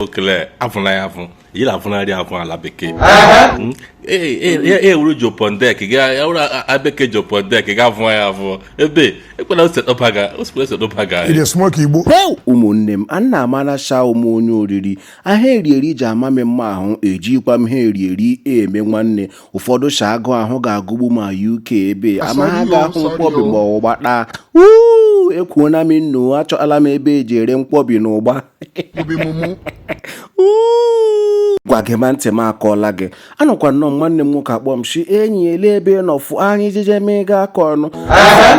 okele afụna ya afụ yiri afụnarị afụ ala bekee hmm? e, e, e, e wuru jopondek ya wuru abeke jopondek ga afụ ya afụ ebe ekwela osetọbaga osikwa osetọbaga ụmụnne m a na amara sha wụ m onye oriri ihe eri eri ji ama m mma ahụ ejikwa m ihe eri eri eme nwanne ụfọdụ sha agụụ ahụ ga-agụgbu m na uk ebe ama ha ga-ahụ nkwobi ma ọ ụgba kpa uuu ekwuona m nnọọ achọala m ebe eji ere nkwobi na ụgba obi mụmụ gwa gị ma ntị m akọọla gị anọkwa nnọọ m nwanne m nwoke akpọ m si enyi ele ebe ị nọ fụ anyị jeje mega aka ọnụ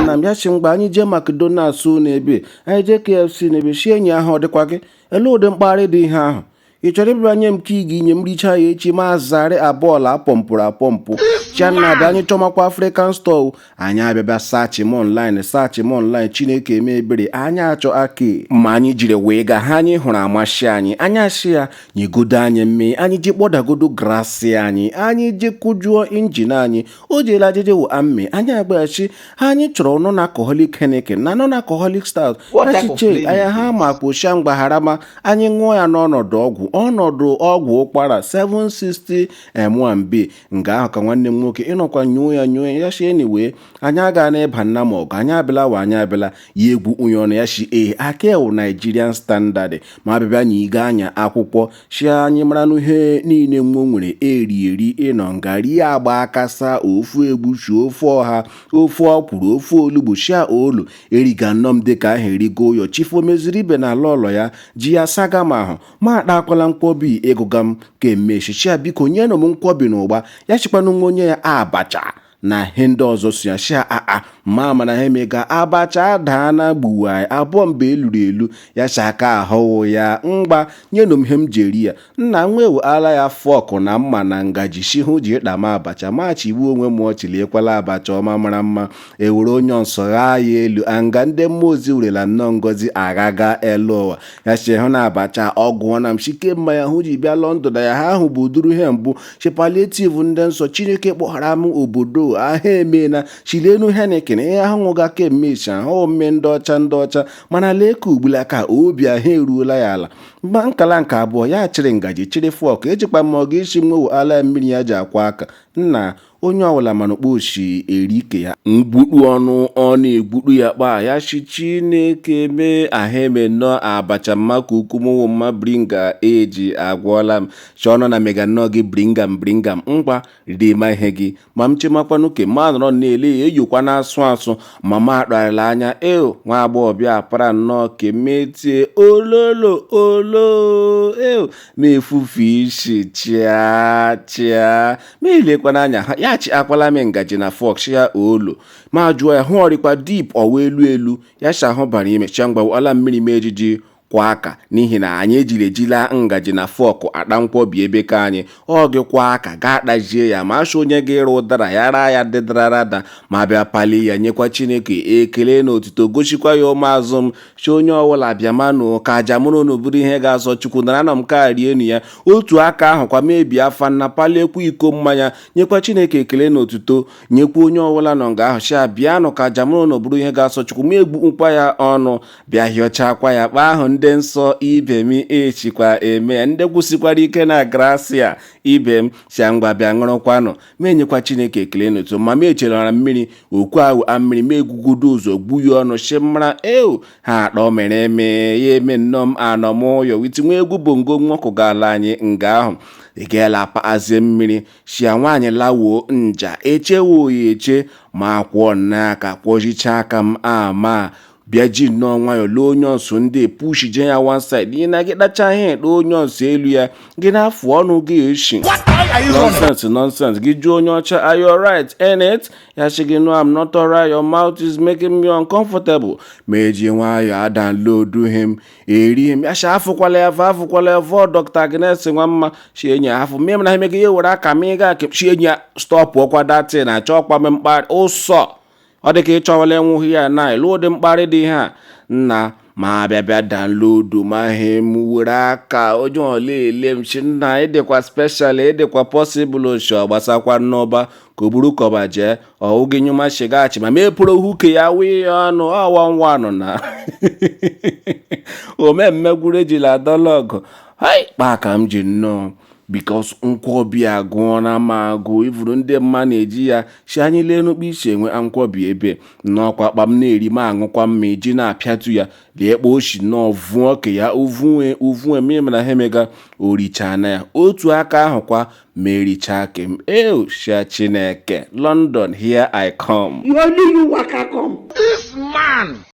na m ya si ngwa anyị jee McDonald's na ebe anyị jee KFC na ebe si enyi ahụ ọ dịkwa gị ele ụdị mkparị dị ihe ahụ ị chọrọ ịbịa nye m ka ị ga-enye m richa ya echi ma zarị abụọla apọmpụrụ apọmpụ shia nna bịa anyị chọmakwa African store anyị abịa bịa searchma online searchma online chineke eme ebere anyị achọ aki ma anyị jiri wee gaa ihe anyị hụrụ amasị anyị anyị asị ya nyegodo anyị mmee anyị ji kpọdagodo grasị anyị anyị ji kụjuo injin anyị o jeela ajịjị wụ amme anyị agwa ya shi ihe anyị chọrọ non alcoholic Heineken na non alcoholic stout achiche anya ha ma kpochia mgbagharama anyị ṅụọ ya n'ọnọdụ ọgwụ ọnọdụ ọgwụ ụkwara 760 m and b nga ahụ ka nwanne m nwoke ịnọkwa nyoo ya nyoo ya shi anyway anyị aga na-eba nna m ọgụ anyị abịala wa anyị abịala ya egwu unye ọnụ ya shi ee aka ewu Nigerian standard ma abịbịa nyega anyị akwụkwọ shi anyị maranụ ihe niile wa nwere eri eri ịnọ nga rie agba akasa ofe egwusi ofe ọha ofe ọkwụrụ ofe olugbu shia olu eriga nnọọ m dịka ahụ eriga ụyọ chief omeziri ibe na ala ụlọ ya ji ya saga m ahụ ma akpakwala nkwobi ịgụga m kemeshi shi ya biko nyenụ m nkwobi na ụgba ya shikwanụ wa nye ya abacha na ihe ndị ọzọ si ya shia aa ma mana ihe emega abacha adaa na gbuwa abụọ mba eluru elu ya si aka ahụ wụ ya ngwa nyenụ m ihe m ji eri ya nna m wewu ala ya fork na mma na ngaji si hụ ji ịkpa m abacha ma chigbuo onwe m ọchị lekwala abacha ọma mara mma ewere onions ghaa ya elu nga ndị mmụọ ozi werela nnọọ ngozi aghaga elu ụwa ya shi hụ na abacha ọ gụọ na m shi kemgbe ya hụ ji bịa London na ya ha ahụ bụ uduru ihe mbụ shi palliative ndị nsọ chineke kpọghara m obodo ahụ emeela shi lenụ Heineken ihe ahụ ṅụga kemeshi ahụ mmee ndị ọcha ndị ọcha mana lee ka ugbula ka obi ahụ eruola ya ala mgba nkala nke abụọ ya chịrị ngaji chịrị fork ejikwa m ọga shi wewu ala mmiri ya ji akwọ aka nna onye ọbụla manụ kpa o si eri ke ya mgbukpụ ọnụ ọ na-egbukpụ ya kpaa ya si chineke mee ahụ eme nnọọ abacha mma ka ukwu mụnwụ mma bringa eji agwọọla m chọọnọ na mega nnọọ gị bringam bringam ngwa rima ihe gị ma m chemakwanụ ke m anọrọ na-ele ya eyokwa na-asụ asụ ma ma akparịla anya eo nwa agbọghọ bịa para nnọọ ke m etie ololo olo eo ma efufe isi chịa chịa ma ilekwana anya ha ya chi akwala m ngaji na fọk ya olu ma jụọ ya hụ ọ rịkwa dip ọwa elu elu ya chi ahụ bara ime cha mgbawa ọla mmiri m eji akwọ aka n'ihi na anyị ejiri ejila ngaji na fọkụ akpa nkwọbi ebe ka anyị ọ gị kwọọ aka gaa kpajie ya ma achọ onye ga-ịrụ ụdara ya raa ya dịdarada ma bịa pali ya nyekwa chineke ekele na otuto gosikwa ya ụmụazụ m shi onye ọbụla bịa manụ ka aja mụ na unu bụrụ ihe ga-asọ chukwu naranụ nke a rienụ ya otu aka ahụ kwa ma bịa afa nna paliekwa iko mmanya nyekwa chineke ekele na otuto nyekwa onye ọbụla nọ nga ahụ shi ya bịanụ ka aja mụ na unu bụrụ ihe ga-asọ chukwu ma egbukpụkwa ya ọnụ bịa hịọchakwa ya kpa ahụ ndị nsọ ibe m eshikwa eme ya ndị kwụsikwara ike na grasia ibe m shi ya ngwa bịa ṅụrụkwanụ m enyekwa chineke ekele na otuto ma m echelọra mmiri ọkụ ahụ a mmiri m ebugodu ụzọ gbuye ọnụ si mara eo ha akpọ mere eme ya eme nnọọ m anọ m ụyọ etiwe egwu bongo nwoke gaala anyị nga ahụ ị gaela paazie mmiri shia nwaanyị lawoo nja echewo oyi eche ma akwọọ n'aka kwọzichaa aka m ama bịa ji nnọọ nwayọọ lee onions ndị pushi je ya one side ihi na gị kpacha ihe ekpe onions elu ya gị na-afụ ọnụ gị eshi nonsense nonsense gị jụọ onye ọcha are you alright innit ya sị gị no I'm not alright your mouth is making me uncomfortable ma eji nwayọọ adanlodu ihe m eri ihe m ya sị afụkwala ya fa afụkwala ya vọ dọkta Agnes nwa mma shi enyi ya afụ mmiri na ha emegị ya were aka ma ị ga akị shi enyi ya stọpụ ọkwa datin achọ ọkwa mmekpa ụsọ ọ dị ka ịchọwala enwughị ya na ịlụ ụdị mkparị dị ihe a nna ma abịa bịa danlodu ma ihe m were aka onye ọla ele m si nna ị dịkwa speshal ị dịkwa pọsịbụl oshi ọ gbasakwa n'ọba ka o buru kọba jee ọ wụ gị nyụma shigaghachi ma mepụrụ huke ya wụye ya ọnụ ọwa nwa ọnụ na omemme gwuru ejila adọla ọgụ hai kpaa ka m ji nnọọ because nkwobi agụọla m agụ ivuru ndị mma na-eji ya si anyị lee n'ukpu isi enwe nkwobi ebe nọkwa kpa m na-eri m aṅụkwa mma iji na-apịatu ya lee kpa o si nnọọ vụọ ka ya uvunwe uvunwe mmiri mana ha emega o richaa na ya otu aka ahụ kwa ma erichaa ke m eo shia chineke london here i come Only you waka come.